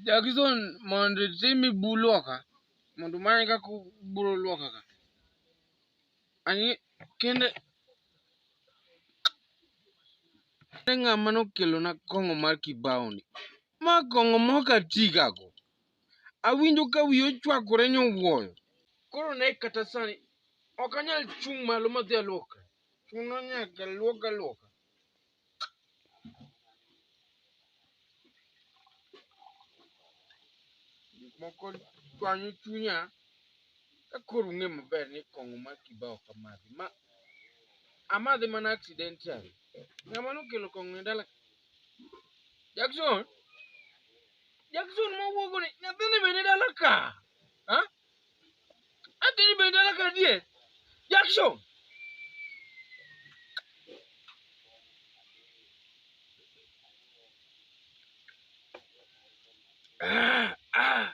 Jackson mondo itimi bu luoka mondo many kaka ubro luoka ka. Ani kende kende ng'ama nokelona kong'o mar kibao ni. Ma kong'o mok atigago. Awinjo ka wiya ochwakore nyowuoyo. Koro ne kata sani ok anyal chung' malo madhi aluoka. Chuno nyaka luoka luoka. Gik moko chwanyo chunya ka koro ung'e maber ni kong'o mar kibao ok amadhi. Ma amadhe mana accidentally. Ng'ama nokelo kong'o e dala Jackson. Jackson mowuogo ni nyathini bende dala ka. Ha? Nyathini bende dala ka die. Jackson. Ah, ah.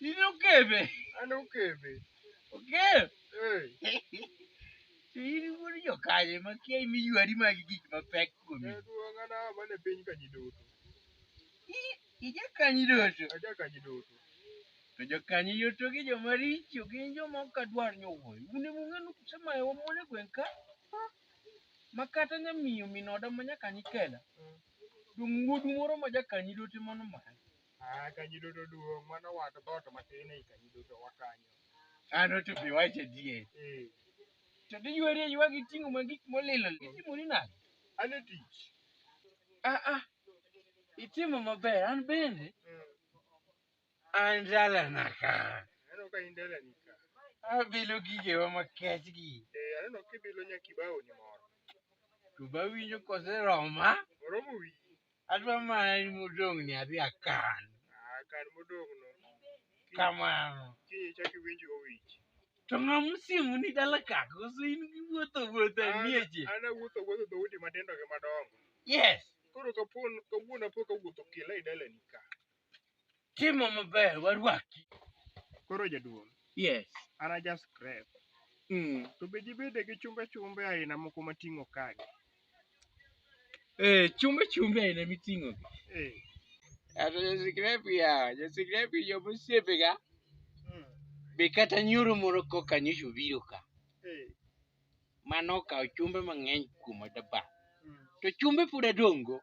Nini ukebe? An okebe. Ukebe? Eh. Nini wuod jokanyo ma kia imiywari magi gik mapek kuomi? Eh, duong' an awa mana e piny Kanyidoto. I- Ija Kanyidoto. Aja Kanyidoto. To jokanyo yoto gi joma richo gin joma ok adwar ni owuoyo. Un ema ung'e ni kusemayo wamon e gweng' ka. Ma kata nyamiyo min oda ma nyakanyi kela. Dong' wuodu moro ma jakanyi dote mano mano. Ah, kanyido to duong' mano wat dhoot matin ei kanyido to wakanyo. Ano to be wach adier. Eh, To diyweri aywa gi ting'o ma gik molilo. Itimori nade? an e tich. Ah ah. Itimo maber an bende. Mm. An dalana ka. Aneno ka in dalani ka. Abilo gigewa makech gi. Eh, aneno kibilo nyakibao ni moro. To bawinjo koseroma. Oromo wiyi. Adwa mana ni modong' ni adhi akan. Ah, kan modong' no. Kamano. Kiny ichak iwinj owich. To ng'a mosiemo ni dala ka? Koso in gi wuotho wuotho e mieche? An awuotho wuotho dhoudi matindo gi madongo. Yes. Koro kapon kawuono apo kawuotho kila e dalani ka. Timo maber warwaki. Koro jaduong', Yes. an aja scrap. Mm. To be jibede gi chumbe chumbe aina moko mating'o kagi. Eh, chumbe chumbe aina miting'o. Eh. Ato jasikrepi yawa, jasikrepi joma osiepega Mm. be kata nyoro moro koka nyocha obiro ka. Eh. Mano okawo chumbe mang'eny kuoma daba. Mm. To chumbe pod adongo.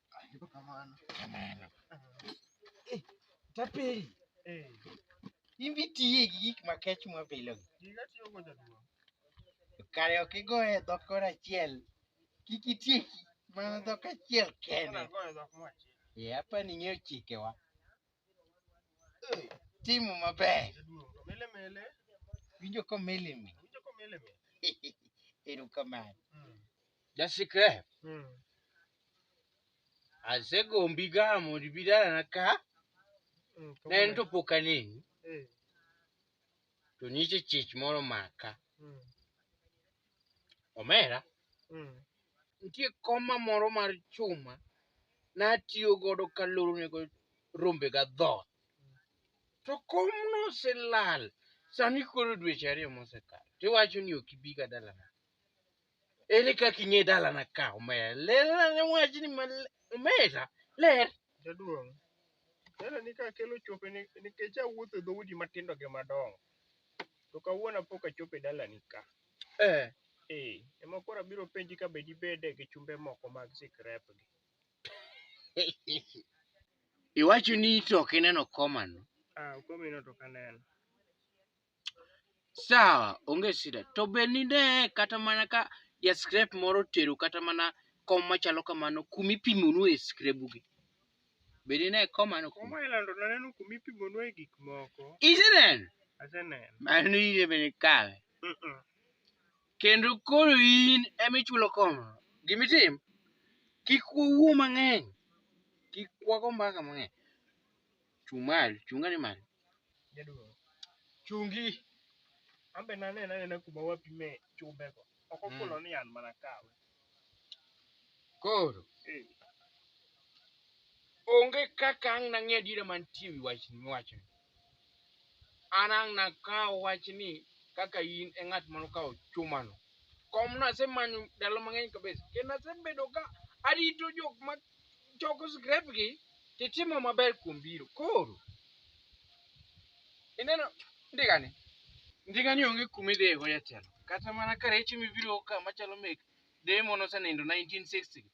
Tapeli. Eh. Imbi tiye gi gik ma kech mwa pile. Giga tiyo go jaduong'. Kare ok igo e dhok kor achiel. Kik itie mana dhok achiel kende. Yep, ni ng'eyo chikewa. Timu maber. Jaduong' to mele mele. Winjo komelimi. Winjo komele mele. Erokamano. Mm. Jasikre. Mm. Asegombi ga mondo ibi dalana ka. Mm, to Ne en mole. to pok aneni. Eh. to nyiche chich moro maka. Mm. Omera, mm. nitie koma moro mar chuma natiyo godo kaloro nego rombe ga dhoth. To komno oselal, sani koro dweche ariyo mosekalo. Tiwacho ni ok ibi ga dalana. Ere kaka ing'e dalana ka omera? Ler ane wachni ma omera. Ler. Jaduong', dalani ka akelo chope ni- nikech awuotho e dhoudi matindo gi madongo. To kawuono apok achopo e dalani ka. Eh. Ee, ema koro abiro penji ka be dibede gi chumbe moko mag sikrepgi. Iwacho ni to ok ineno komano. Ah, komino to ok aneno. Sawa, onge shida. To be nine kata mana ka ja scrap moro otero kata mana kom machalo kamano kuma ipimonue e skrebugi. Be nine komano kuma? Kuma ilando naneno kuma ipimonue gik moko. Iseneno? Aseneno. Mano ine bende kawe. Mm-mm. Kendo koro in ema ichulo koma. Gima itim, kik wawuo mang'eny. Kik wago mbaka mang'eny. Chung' malo, chung' ane malo. Jaduong'. Chungi. An be naneno anena kuma wapime chumbego. Ok Mm. ofulo ni an mana kawe. Koro, Eh. onge kaka ang' nang'e adiera mantie ewi wach miwacho. An ang' nakawo wachni kaka in e ng'at mano kawo chumano. Kom nasemanyo ndalo mang'eny kabisa. Kendo nasebedo ka arito jok ma choko scrap gi to itimo maber kuom biro. Koro ineno ndigani, ndigani onge kuma idhiye go jatelo. Kata mana ka rech ema ibiro go ka machalo mek deye mane osenindo 1960 gi,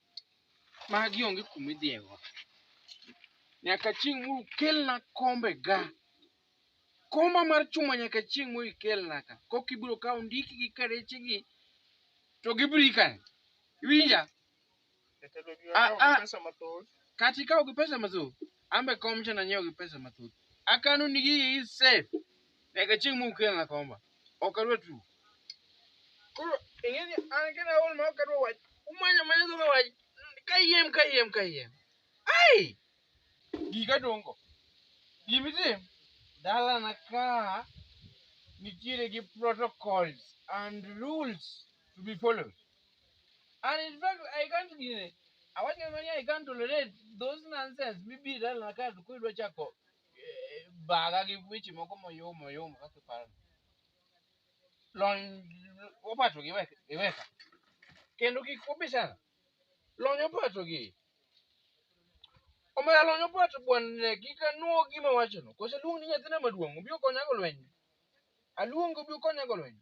magi onge kuma idhiye go. Nyaka chieng' ma ukelna kombe ga, komba mar chuma nyaka chieng' ma ikelna ka. Koka ibiro kawo ondikgi ka rechegi to gibiro ika. Iwinja? Jatelo gi Ah, wakawo ah. gi pesa mathoth. kata ikawo gi pesa mathoth ambe kom cha nanyiewo gi pesa mathoth akano ni gigi safe nyaka chieng' mukelna komba ok adwa tu koro ing'e ni an kena aol ma ok adwa wach umanya manya dhoma wach kayiem kayiem kayiem ai gika dongo gimitim dalana ka nitiere gi protocols and rules to be followed And in fact, I can't give it. I want to money, I can't tolerate those nonsense. Maybe that I can't quit what I call. Baga give which you moko moyo moyo moko kipara. Lon opato gi weka gi weka. Kendo kik kubishana. Lon opato gi. Omera lon opato bwanne kik anuo gima wachono. Kose luong ni nyathina maduong' obiro konya go lweny. Aluong obiro konya go lweny.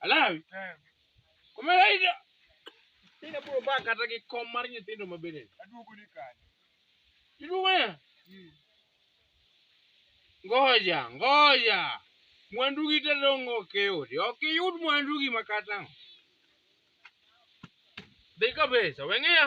Alawi. Kumera ida. Ina bro ba kata gi kom mar nyithindo ma bende. Aduogo ni kanye. Iduogo ya? Hmm. Ngoja, ngoja. Mwandu gi te dongo ke odi. Ok iyud mwandu gi makata. Dika besa, weng'eya.